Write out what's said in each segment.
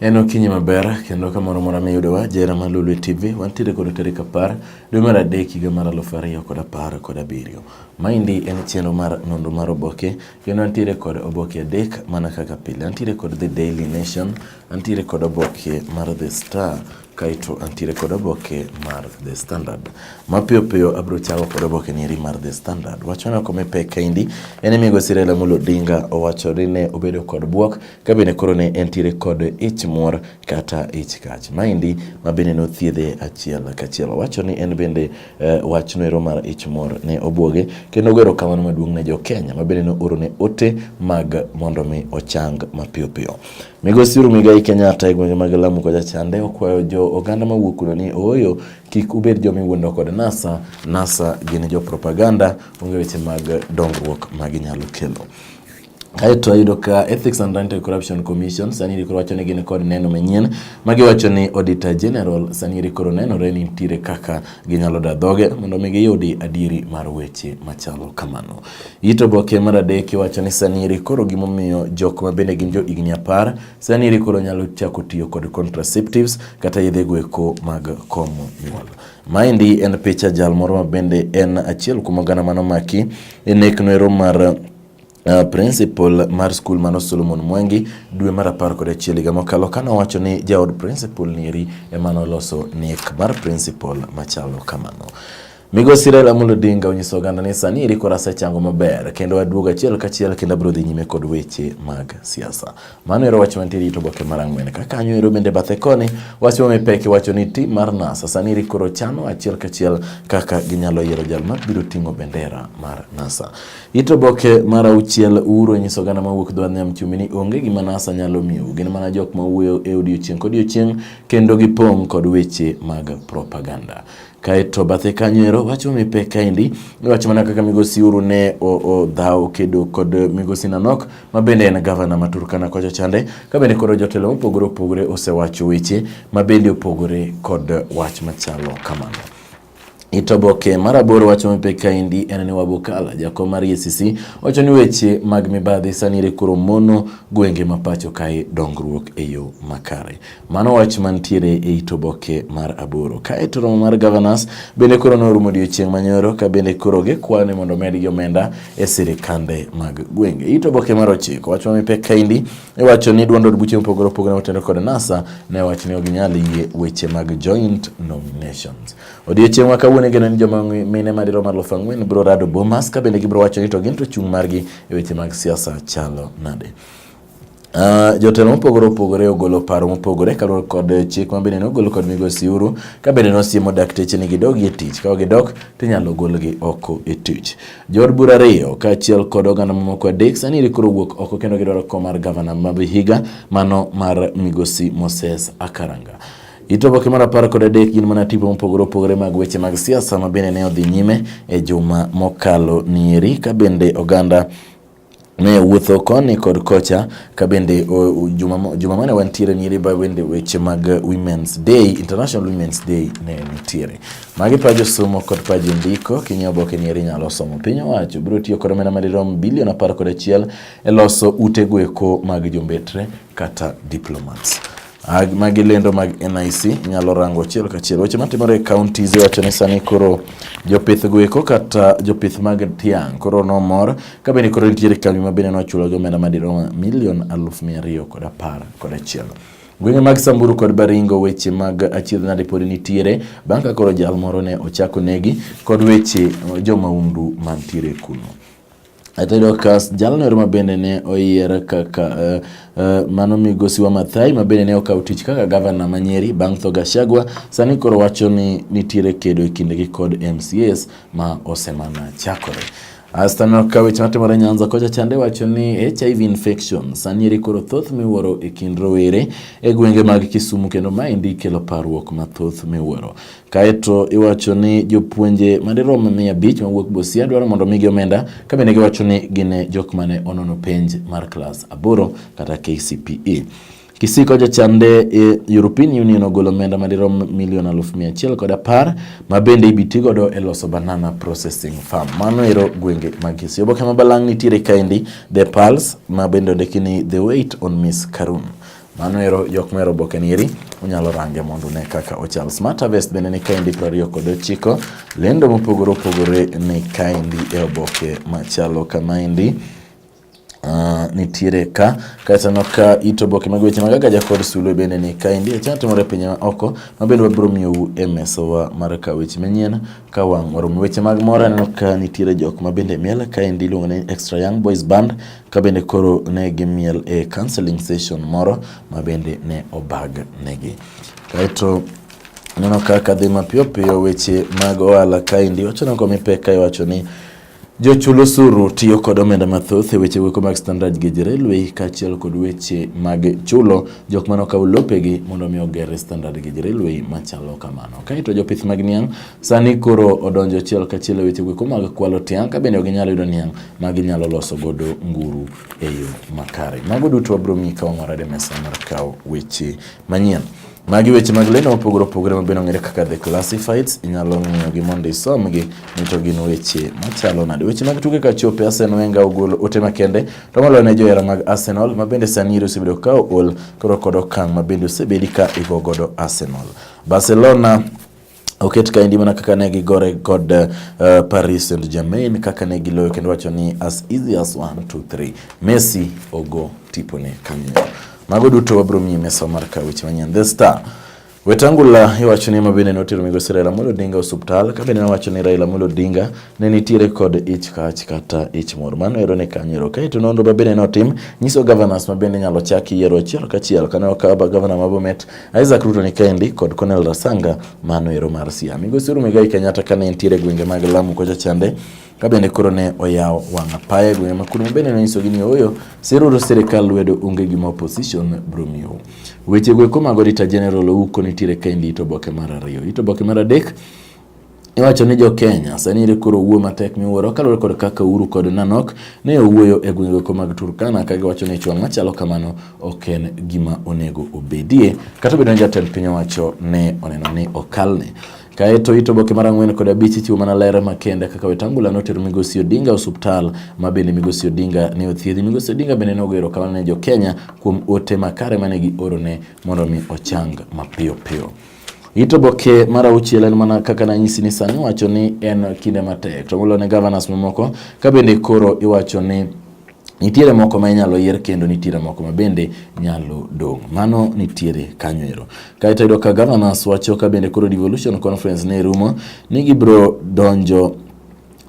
En okinyi maber kendo kamoro mora miyudowa jera ma Lolwe TV wantiere kod tarik apar dwe mar adek higa mar aluf ariyo kod apar kod abiriyo. Maendi en chenro mar nonro mar oboke kendo antiere kod oboke adek mana kaka pile. Antiere kod The Daily Nation, antiere kod oboke mar The Star kaeto antiere kod oboke mar The Standard. Mapiyo piyo abiro chako kod oboke nieri mar The Standard. Wachona kome pek kaendi en ni Migosi Raila Amolo Odinga owacho ni ne obedo kod bwok ka bende koro ne entiere kod ich muor kata ich kach. Maendi ma bende nothiedhe achiel kachiel. Owacho ni en bende eh, wach noero mar ich muor ne obwoge kendo ogero kamano maduong' ne jo Kenya ma bende nooro ne ote mag mondo mi ochang mapiyo piyo. Migosi Uhuru Muigai Kenyatta e gwenge mag Lamu kocha chande okwayo jo oganda mawuok kuno ni ooyo kik ubed joma iwuondo kod NASA. NASA gin jo propaganda, onge weche mag dongruok ma ginyalo kelo. Kae to ayudo ka Ethics and Anti-Corruption Commission sani iri koro wacho ni gin kod neno manyien ma giwacho ni Auditor General sani iri koro nenore ni nitiere kaka ginyalo da dhoge mondo mi giyudi adieri mar weche machalo kamano. It oboke mar adek iwacho ni sani iri koro gimomiyo jok ma bende gin jo higni apar sani iri koro nyalo chako tiyo kod contraceptives kata yedhe gweko mag komo nyuol. Maendi en picha jal moro ma bende en achiel kuom oganda manomaki e nekno ero mar Uh, principal mar skul mano Solomon Mwangi dwe mar apar kod achiel higa mokalo kane owacho ni jaod principal nieri emane oloso nek mar principal machalo kamano. Migosi Raila Amolo Odinga onyiso oganda ni sani eri koro asechango maber kendo aduogo achiel kachiel kendo abiro dhi nyime kod weche mag siasa. Mano ero wach mantie rito boke mar ang'wen. Ka kanyo ero bende bathe koni wach ma mipek iwacho ni tim mar NASA sani eri koro chano achiel kachiel kaka ginyalo yiero jal mabiro ting'o bendera mar NASA. It oboke mar auchiel Uhuru onyiso oganda mawuok dho nam chumbi ni onge gima NASA nyalo miyou. Gin mana jok ma wuoyo e odiechieng' kodiechieng' kendo gipong' kod weche mag propaganda. Kaeto bathe kanyo ero wacho mipe kaendi iwacho mana kaka migosi Uhuru ne odhawo kedo kod migosi Nanok ma bende en gavana ma Turkana kocha chande ka bende koro jotelo mopogore opogore osewacho weche ma bende opogore kod wach machalo kamano. Itoboke mar aboro wacho mipek kaendi en ni Wabukala jakom mar EACC wacho ni weche mag mibadhi sanire koro mono gwenge ma pacho kae dongruok e yo makare. Mano wach mantiere e itoboke mar aboro. Kae to romo mar governors bende koro norumo odiechieng' manyoro ka bende koro gikwayo ni mondo omedgi omenda e sirikande mag gwenge. Itoboke mar ochiko wacho mipek kaendi Iwacho ni duond od buche mopogore opogore motelo kod NASA ne wach ni ok nyal yie weche mag joint nominations. Odiechieng' ma kawuono igeno ni joma mine madirom alufu ang'wen biro rado Bomas ka bende gibiro wacho ni to gin to chung' margi e weche mag siasa chalo nade. Uh, jotelo mopogore opogore ogolo paro mopogore kaluwore kod chik ma bende nogol kod migosi Uhuru ka bende nosiemo dakteche ni gidogi e tich ka gidok to inyalo golgi oko e tich. Jood bura ariyo kaachiel kod oganda mamoko adek sani rikoro wuok oko kendo gidwaro kom mar gavana ma Vihiga mano mar migosi Moses Akaranga. It oboke mar apar kod adek gin mana tipo mopogore opogore mag weche mag siasa ma bende ne odhi nyime e juma mokalo nieri ka bende oganda ne wuotho koni kod kocha ka bende juma mane wantiere nyiri ba bende weche mag Women's Day, International Women's Day ne nitiere. Magi pajo somo kod pajo ndiko kinyo oboke ni eri nyalo somo. Piny owacho biro tiyo kod omenda madirom bilion apar kod achiel e loso ute gweko mag jombetre kata diplomats. Magi lendo mag NIC inyalo rango achiel kachiel. Weche matimore e counties iwacho ni sani koro jopith gweko kata jopith mag tiang' koro nomor ka bende koro nitiere kambi ma bende nochulo gi omenda madirom milion aluf mia ariyo kod apar kod achiel. Gwenge mag Samburu kod Baringo weche mag achiedh nade pod nitiere bang' ka koro jal moro ne ochako negi kod weche jomaundu mantiere kuno. Atayudo ka jalno ero mabende ne oyier kaka uh, uh, mano migosi wa Mathai mabende ne okawo tich kaka gavana ma Nyeri bang' tho Gachagua sani koro wacho ni nitiere kedo e kindegi kod MCAs ma osemana chakore. Astanok ka weche matimore Nyanza kocha chande wacho ni HIV infection sani eri koro thoth miwuoro e kind rowere e gwenge mag Kisumu kendo maendi kelo parruok mathoth miwuoro. Kaeto iwacho ni jopuonje madirom mia abich mawuok Busia dwaro mondo omigi omenda ka bende giwacho ni gin e jok mane onono penj mar klas aboro kata KCPE. Kisiko jochande e European Union ogolo omenda madirom milion aluf mia achiel kod apar ma bende ibiti godo e loso banana processing farm. Mano ero gwenge mag Kisii. Oboke ma balang' nitiere kaendi The Pulse ma bende ondiki ni The Wait on Miss Karun. Mano ero jok mero oboke ni eri unyalo range mondo ne kaka ochal. Smart Harvest bende ni kaendi prariyo kod ochiko. Lendo mopogore opogore ni kaendi e oboke machalo kamaendi. Uh, nitiere ka kaeto no ka it oboke mag weche mag agaja kod sulwe bende ni kaendi achano timore pinye ma oko ma bende wabiro miyou e mesowa mar ka weche manyien ka wang' warumo weche mag mor aneno ka nitiere jok ma bende miel ka endi iluongo ni extra young boys band ka bende koro ne gimiel e counseling session moro ma bende ne obag negi kaeto aneno ka kadhi mapiyo piyo weche mag ohala kaendi wacho nango mipek ka iwacho ni Jochul osuru tiyo kod omenda mathoth e weche weko mag standard gauge railway kaachiel kod weche mag chulo jok mane okawo lopegi mondo mi oger standard gauge railway machalo kamano. Kaeto jopith mag niang' sani koro odonjo achiel kachiel e weche weko mag kwalo tiang' ka bende ok ginyal yudo niang' ma ginyalo loso godo nguru e yo makare. Mago duto wabiro ng'i ka wang'orade mesa mar kawo weche manyien. Magi weche mag lendo mopogore opogore ma bende ong'ere kaka The Classifieds, inyalo ng'iyogi mondo isomgi ni to gin weche machalo nade. Weche mag tuke ka chope, Arsene Wenger ogolo ote makende to moloyo ne johera mag Arsenal ma bende sani iri osebedo ka ool koro kod okang' ma bende osebedi ka igo godo Arsenal. Barcelona Oket kaendi mana kaka ne gigore kod uh, Paris Saint Germain kaka ne giloyo kendo wacho ni as easy as 1 2 3 Messi ogo tipone kanyo. Mago duto wabro miyi mesa mar kawo weche manyien. The Star Wetangula iwacho ni mabende notero migosi Raila Amolo Odinga e osuptal ka bende nowacho ni Raila Amolo Odinga ne nitiere kod ich kach kata ich mor. Mano ero ne kanyero. Kaeto nonro mabende notim nyiso governors mabende nyalo chaki yiero achiel kachiel kane okawo governor ma Bomet Isaac Ruto ni Kendi kod Cornel Rasanga mano ero mar Siaya. Migosi Uhuru Muigai Kenyatta kane entiere gwenge mag Lamu kocha chande ka bende koro ne oyawo wang' apaya e gwenge ma Kuno bende nonyisogi ni ooyo siruru sirikal lwedo onge gima opposition bro miyo. Weche go eko mago Rita General Ouko nitiere Kendi ito boke mar ariyo. Ito boke mar adek Iwacho ni jo Kenya sani ere koro owuo matek miwuoro kaluwore kod kaka Uhuru kod Nanok ne owuoyo e gwengego mag Turkana ka giwacho ni chwang' machalo kamano ok en gima onego obedie kata obedo ni jatend piny owacho ne oneno ni okalne. Kaeto ito boke mar ang'wen kod abich ichiwo mana ler makende kaka Wetangula notero Migosi Odinga osuptal ma bende Migosi Odinga ne othiedhi. Migosi Odinga bende ne ogero kamano ne jo Kenya kuom ote makare mane giorone mondo mi ochang mapiyo piyo. It oboke mar auchiel en mana kaka nanyisi ni sani iwacho ni en kinde matek to molo ne governors mamoko ka bende koro iwacho ni nitiere moko ma inyalo yier kendo nitiere moko ma bende nyalo dong' mano nitiere kanyo ero kaeto yudo ka governors wacho ka bende koro devolution conference ne rumo ni gibro donjo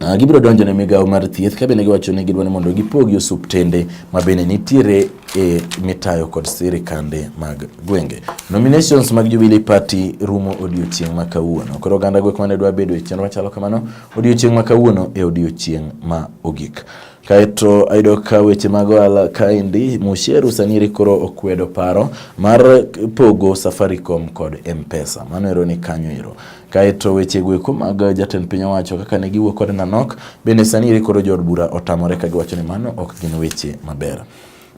Ah, gibiro donjo ne migawo mar thieth ka bende giwacho ni gidwa ni mondo gipogi osuptende ma bende nitiere e mitayo kod sirikande mag gwenge. Nominations mag Jubilee Party rumo odiochieng' ma kawuono. Koro oganda gwek mane dwa bedo e chenro machalo kamano odiochieng' ma kawuono e odiochieng' ma ogik. Kaeto ayudo ka weche mag ohala kaendi Musheru Saniri koro okwedo paro mar pogo Safaricom kod Mpesa. Mano ero ni kanyo ero. Kaeto weche goeko mag jatend piny owacho kaka ne giwuo kod Nanok bende sani iri koro jood bura otamore ka giwacho ni mano ok gin weche maber.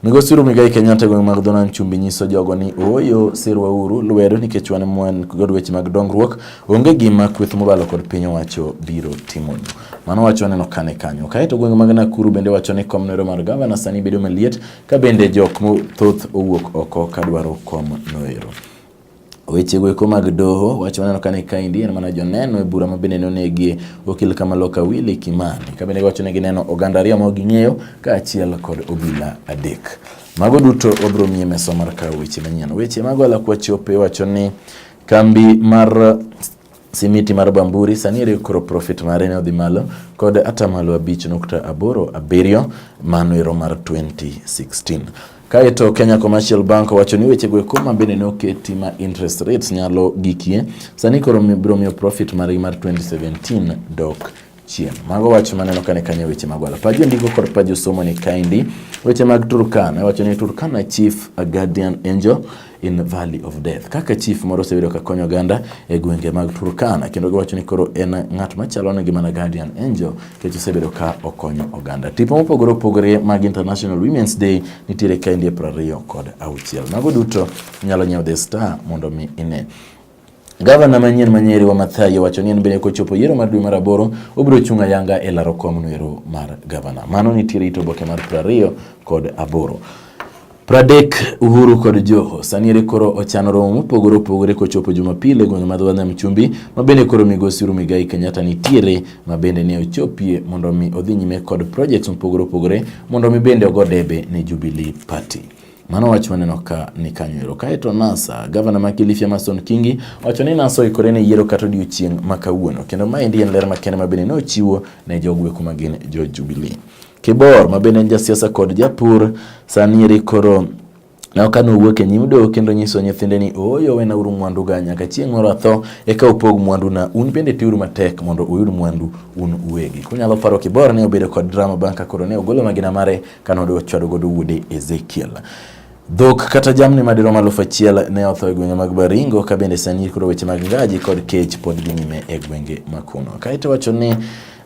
Migosi Uhuru Muigai Kenyatta e gweng' mag Dhonam Chumbi nyiso jogo ni ooyo sirwa uru lwedo nikech wan mwan kod weche mag dongruok onge gima kweth mobalo kod piny owacho biro timonu. Mano wacho waneno kane kanyo. Kaeto gwenge mag Nakuru bende wacho ni kom noero mar gavana sani bedo maliet ka bende jok mothoth owuok oko kadwaro kom noero. Weche goeko mag doho wach maneno kane kaendi en mana joneno e bura ma bende nonegie okil Kamaloka Willy Kimani ka bende giwacho ni gineno oganda ariyo ma ging'eyo kaachiel kod obila adek. Mago duto wabiro miye mesa mar kawo weche manyien. Weche mago alakuachope wacho ni kambi mar Simiti mar Bamburi sani ere koro profit mare ne odhi malo kod atamalo abich nukta aboro abiriyo mano ero mar 2016. Kaeto Kenya Commercial Bank owacho ni weche goeko ma bende ne oketi ma interest rates nyalo gikie sani koro biro miyo profit margi mar 2017 dok chien. Mago wach maneno kane kanye weche mag wala paji ndiko kod paji somo ni kaindi weche mag Turkana wacho ni Turkana chief a guardian angel in valley of death kaka chief moro osebedo ka konyo oganda e gwenge mag Turkana kendo giwacho ni koro en ng'at machalo ne gimana guardian angel kech osebedo ka okonyo oganda. Tipo mopogore opogore mag International Women's Day nitiere kaindi e prariyo kod auchiel. Mago duto nyalo nyiewo The Star mondo mi ine. Gavana manyien ma Nyeri Wamathai owacho ni en bende kochopo yiero mar dwe mar aboro obiro chung' ayanga e laro kom noero mar gavana. Mano nitiere it oboke mar prariyo kod aboro. Pradek Uhuru kod Joho sani ere koro ochano romo mopogore opogore kochopo Jumapil e gwenge ma dho Nam Chumbi ma bende koro migosi Uhuru Migai Kenyatta nitiere ma bende ne ochopie mondo mi odhi nyime kod projects mopogore opogore mondo mi bende ogo debe ne Jubilee Party. Mano wach maneno ka ni kanyo ero. Kaeto NASA, gavana ma Kilifi Amason Kingi wacho ni NASA oikore ne yiero kata odiochieng' ma kawuono. Kendo maendi en ler makende ma bende ne ochiwo ne jogweko ma gin jo Jubilee. Kibor ma bende en jasiasa kod japur sani eri koro na ka nowuok e nyim doho kendo nyiso nyithinde ni ooyo wenauru mwanduga nyaka chieng' moro atho eka upog mwanduna un bende tiuru matek mondo uyud mwandu un uwegi kunyalo paro kibor ne obedo kod drama bang' ka koro ne ogolo magina mare kane odwa chwado godo wuode Ezekiel. Dhok kata jamni madirom aluf achiel ne otho e gwenge mag Baringo ka bende sani koro weche mag ngaji kod kech pod dhi nyime e gwenge makuno. Kaeto wacho ni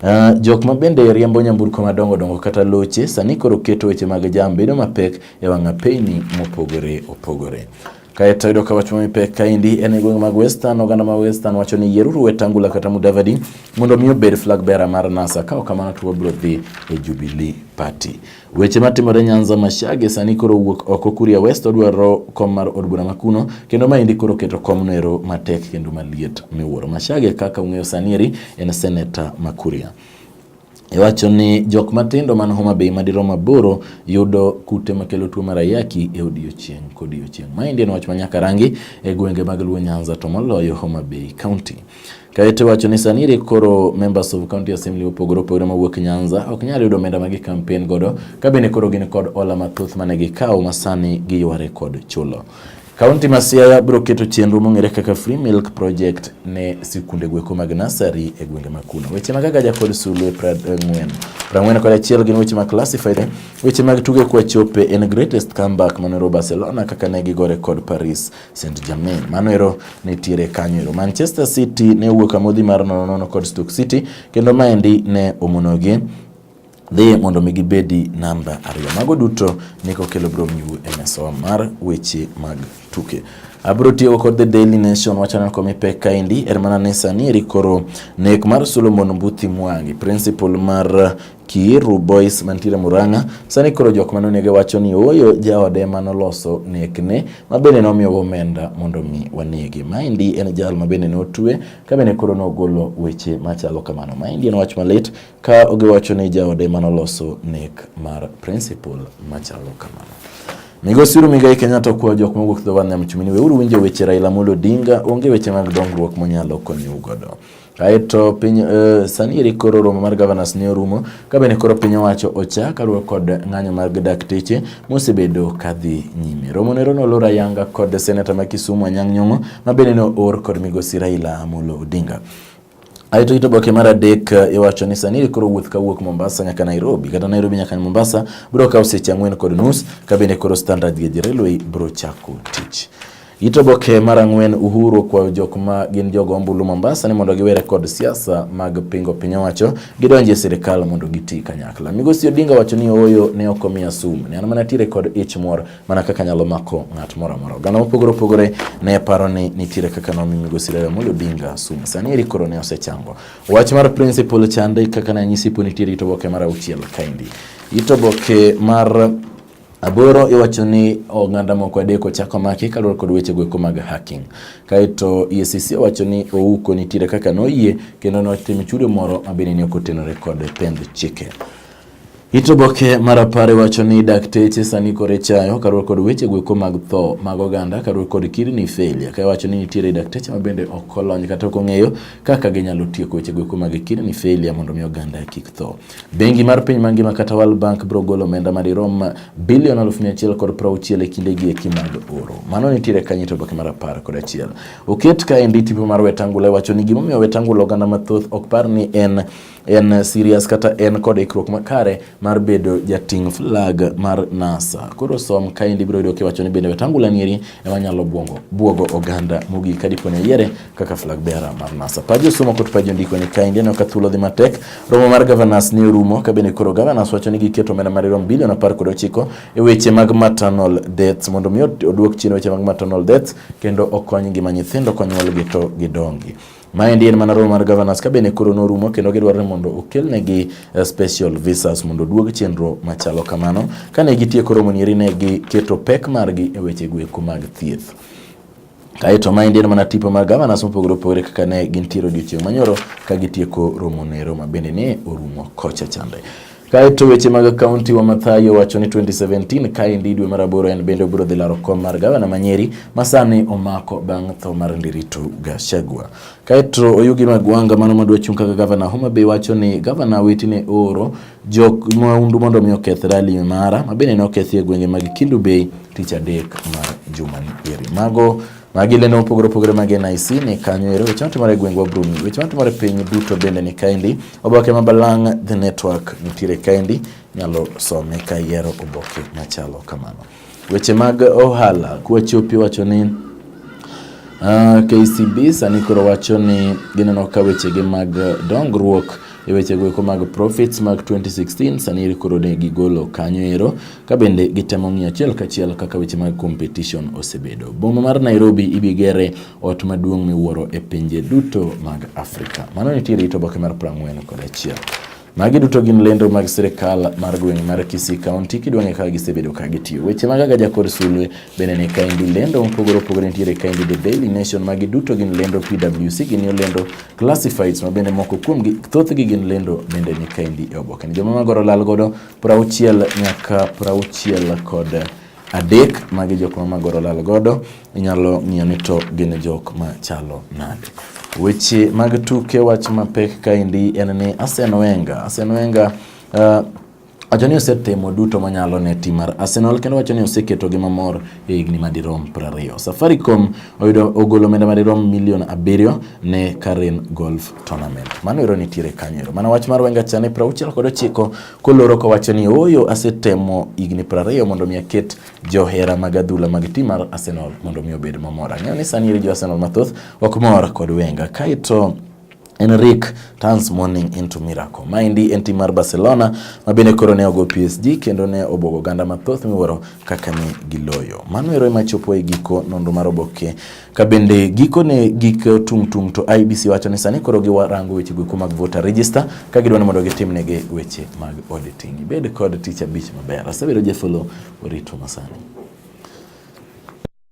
Uh, jok ma bende riembo nyamburko madongo dongo kata loche sani koro keto weche mag jam bedo mapek e wang'a peyni mopogore opogore. Kaeto yudo ka wach ma mipek kaendi en e gweng' mag Western. Oganda ma Western wacho ni yieruru Wetangula kata Mudavadi mondo mi obed flag bearer mar NASA. Ka ok kamano to wabiro dhi e Jubilee Party. Weche matimore Nyanza Mashage sani koro wuok oko Kuria West odwaro kom mar od bura makuno kendo maendi koro keto kom nero matek kendo maliet miwuoro. Mashage kaka ung'eyo sani eri en senator ma Kuria. Iwacho ni jok matindo man Homa Bay madirom aboro yudo kute makelo tuo mar ayaki e odiechieng' kodiechieng'. Maendi en wach manyaka rangi e gwenge mag Luo Nyanza to moloyo Homa Bay County. Kaeto iwacho ni sani iri koro members of county assembly opogore opogore mawuok Nyanza ok nyal yudo omenda ma gikampen godo ka bende koro gin kod ola mathoth mane gikawo ma sani giyware kod chulo. Kaunti ma Siaya biro keto chenro mong'ere kaka Free Milk Project ne sikunde gweko mag nasari e gwenge ma kuno. Weche mag Agaja kod Sulwe Prang'wen. Prang'wen kod achiel gin weche mag classified. Weche mag tuge kwa chope en greatest comeback manero Barcelona kaka ne gigore kod Paris Saint-Germain. Mano ero nitiere kanyo ero. Manchester City ne wuok amodhi mar nono nono kod Stoke City kendo maendi ne omonogi dhi mondo mi gibedi namba ariyo. Mago duto ni kokelo bro miwu e mesawa mar weche mag tuke. Abro tiyo kod The Daily Nation wachano komi pek kaendi er mana ni sani eri koro nek mar Solomon Mbuthi Mwangi principal mar Kiiru Boys mantiere Murang'a sani koro jok mane onege wacho ni oyo jaode mane oloso nekne ma bende nomiyogo omenda mondo mi wanege. Maendi en jal ma bende notwe ka bende koro nogolo weche machalo kamano. Maendi en wach malit Ka ogiwacho ni jaode mane oloso nek mar principal machalo kamano. Migosi Uhuru Muigai Kenyatta okwayo jok mowuok dho wadh nam chumbi ni weuru winjo weche Raila Amolo Odinga, onge weche mag dongruok monyalo konyou godo. Aeto piny uh, sani eri koro romo mar governors ne orumo ka bende koro piny owacho ocha kaluwe kod ng'anyo mar dakteche mosebedo kadhi nyime. Romo nero nolor ayanga kod seneta ma Kisumu Anyang' Nyong'o ma bende ne oor kod migosi Raila Amolo Odinga. Ae to ito boke mar adek eh, iwacho ni sani koro wuoth kawuok Mombasa nyaka Nairobi kata Nairobi nyaka Mombasa biro kawo seche ang'wen kod nus ka bende koro standard gauge railway biro chako tich. Ito boke mar ang'wen Uhuru okwayo jok ma gin jogo ombulu Mombasa ni mondo giwere kod siasa mag pingo piny owacho gidonji e sirkal mondo giti kanyakla. Migosi Odinga wacho ni ooyo ne ok omiya sum ne an mana tire kod ich mor mana kaka nyalo mako ng'at moro amora. Oganda mopogore opogore ne paro ni nitiere kaka nomi migosi Raila Amolo Odinga sum. Sani eri koro ne osechango. Wach mar principal chande kaka ne anyisi po nitiere ito boke mar auchiel kaendi. Ito boke mar aboro iwacho ni oganda moko adek ochako maki kaluwore kod weche goeko mag hacking. Kaeto EACC owacho ni Ouko nitiere kaka noyie kendo notimo chudo moro mabende ne ok otenore kod pend chike. It oboke mar apar wacho ni dakteche sani kore chayo karuor kod weche gweko mag tho mag oganda karuor kod kidney failure ka wacho ni nitiere dakteche ma bende ok olony kata ok ong'eyo kaka ginyalo tieko weche gweko mag kidney failure mondo mi oganda kik tho. Bengi mar piny mangima kata World Bank biro golo omenda madirom bilion aluf mia achiel kod prauchiel e kinde gi eki mag oro. Mano nitiere kanye to oboke mar apar kod achiel. Oket kaendi tipo mar Wetangula wacho ni gimomiyo Wetangula oganda mathoth ok par ni en en serious kata en kod ikruok makare mar bedo jating' flag mar NASA. Koro som kaendi biro yudo kiwacho ni bende Wetangula nieri ema nyalo bwongo bwogo oganda mogik ka dipo ni oyiere kaka flag bearer mar NASA. Paji osomo kod paji ondiko ni kaendi aneno ka thuolo dhi matek. Romo mar governors ne orumo ka bende koro governors wacho ni giketo omenda mar rom bilion apar kod ochiko e weche mag maternal deaths mondo mi oduok chien weche mag maternal deaths kendo okony ngima nyithindo konyuolgi to gidongi. Maendi en mana romo mar governors ka bende koro norumo kendo gidwaro ni mondo okelnegi eh, special visas mondo duog chenro machalo kamano. Kane gitieko romo nieri ne giketo pek margi e weche gweko mag thieth. Kaeto maendi en mana tipo mar governors mopogore opogore kaka ne gintiere odiochieng' manyoro ka gitieko romo nero ma bende ne orumo kocha chande. Kaeto weche mag kaunti wa Mathayo wacho ni 2017 kaendi dwe mar aboro en bende obiro dhi laro kom mar gavana ma Nyeri masani omako bang' tho mar Ndiritu Gachagua. Kaeto Oyugi Magwanga mano madwa chung' kaka gavana Homa Bay wacho ni gavana wetine ooro jok maundu mondo mi oketh rali mara mabende ne okethi e gwenge mag Kindu Bay tich adek mar jumani eri. Mago Magi lendo mopogore opogore mag NIC ni kanyo ero weche matimore e gwengwa Bruni. Weche matimore piny duto bende ni kaendi. Oboke ma Balang' The Network nitiere kaendi, nyalo some ka iyiero oboke machalo kamano. Weche mag ohala kwachopi wacho ni Uh, ah, KCB sani koro wacho ni gineno ka wechegi mag dongruok e wechego eko mag profits mag 2016 sani koro ne gigolo kanyo ero ka bende gitemo ng'iyo achiel kachiel kaka weche mag competition osebedo. Boma mar Nairobi ibigere ot maduong' miwuoro e pinje duto mag Afrika. Mano nitie rito oboke mar prang'wen kod achiel. Magi duto gin lendo mag sirkal mar gweng' mar Kisii County kidwang'e kaka gisebedo ka gitiyo. Weche mag Agaja kod Sulwe bende ni kaendi lendo mopogore opogore nitiere kaendi The Daily Nation magi duto gin lendo PWC gin yo lendo classifieds ma bende moko kuomgi thothgi gin lendo bende ni kaendi e oboke. Joma magoro lal godo prauchiel nyaka prauchiel kod adek magi jok ma Magoro lal godo inyalo ng'iyo ni to gin jok ma chalo nade. Weche mag tuke wach mapek kaendi en ni Arsene Wenger, Arsene Wenger uh, wacho ni osetimo duto manyalo ne tim mar Arsenal kendo wacho ni oseketogi mamor e higni madirom 20. Safaricom oyudo ogolo omenda madirom milion abiriyo ne Karen Golf Tournament. Mano ero nitiere kanyo ero. Mana wach mar Wenger cha ne 60 kod ochiko koloro kowacho ni ooyo asetemo higni 20 mondo mi aket johera mag adhula mag tim mar Arsenal mondo mi obed mamor. Ang'eyo ni sani iri jo Arsenal mathoth ok mor kod Wenger. Kaito Enrique turns morning into miracle. Maendi en tim mar Barcelona ma bende koro ne ogo PSG kendo ne obwogo oganda mathoth miwuoro kaka ne giloyo. Mano ero ema chopo e giko nonro mar oboke ka bende giko ne gik tung' tung' to IBC wacho ni sani koro giwarango weche goeko mag voter register ka gidwa ni mondo gitimnegi weche mag auditing. Ibed kod tich abich maber. Asebedo Jefolo orito masani.